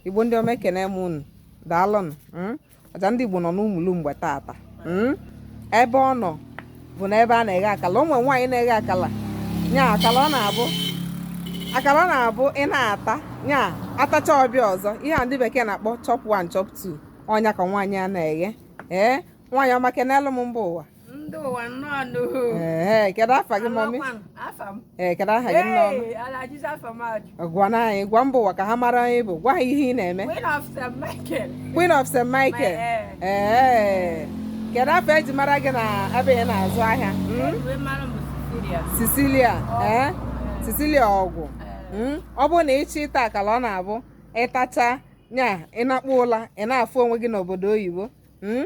Igbo ndị ọma ekene m unu daalụnụ hmm? ọja ndị Igbo nọ n'Umulumgbe taata hmm? ebe ọ nọ bụ na ebe a na-eghe akala ụmụ nwaanyị na-eghe akala nya akala ọ na-abụ ị na-ata nya atacha ọ bịa ọzọ ihe a ndị bekee na-akpọ chop one chop two ọ nya ka nwaanyị a na-eghe ee nwaanyị ọma kenelụ m mba ụwa ndị ụwa nnọọ nụ ee kedu afa gị mọmi Amakwa m, afa m ee kedu aha gị nne ọma Ee, ala jizi afa m ajụ gwa na anyị gwa mba ụwa ka ha mara onye ị bụ gwa ha ihe ị na-eme Queen of St. Michael Queen of St. Michael My- ee kedu afa e ji mara gị na ebe ị na-azụ ahịa Mm? Uwe mara m bụ Cecilia Cecilia ee Cecilia Ọgwụ Mm? ọ bụrụ na ị chọọ ịta akala ọ na-abụ ị tacha nya ị nakpu ụla ị na-afụ onwe gị n'obodo oyibo Mm?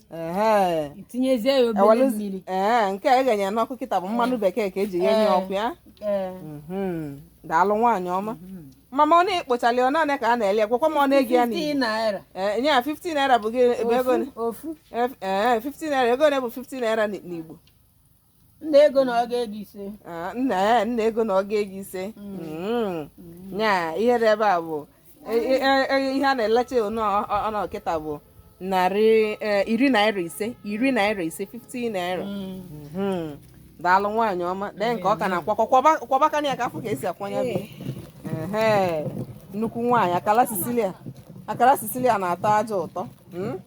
tinyezie ya obere mmiri ee nke a eghenye n'ọkụ kịta bụ mmanụ bekee ka e ji ghenye ọkụ ya mhm. daalụ nwaanyị ọma mhm. mama ọ na-ekpochali ọ naanị ka a na-ele gwakwa m ọnụ ego ya n'Igbo nya 50 naira bụ ego 50 naira ego one bụ 50 naira n'Igbo nnụ ego na ọgụ ego ise Ah, nnụ eh, nnụ ego na ọgụ ego ise Mm. nya ihe dị ebe a bụ e- e- e- e- ihe a na-elecha ọnụ ọnụ kịta bụ narị eh, iri naira ise iri naira ise 50 naira Mhm. daalụ nwaanyị ọma lee nke ọ ka na-akwọ kwọba- kwọbakene ya ka a fụ ka e si akwọ nya bụ Ehe. nnukwu nwaanyị akala Cecilia akala Cecilia na-atọ ajọ ụtọ Mm?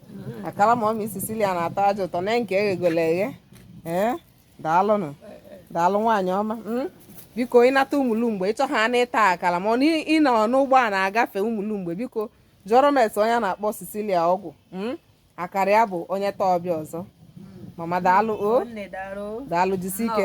akala mọmi Cecilia na-atọ ajọ ụtọ na nke e ghegolo eghe ee daalụnụ daalụ nwaanyị ọma hmm? biko ị nata Umulumgbe ị chọ ha na ịta akala ma ị nọ n'ụgbọ a na-agafe Umulumgbe biko jụọrọ m ese onye a na-akpọ Cecilia Ọgwụ hmm? akara ya bụ onye taa ọ bịa ọzọ mama daalụ o daalụ jisi ike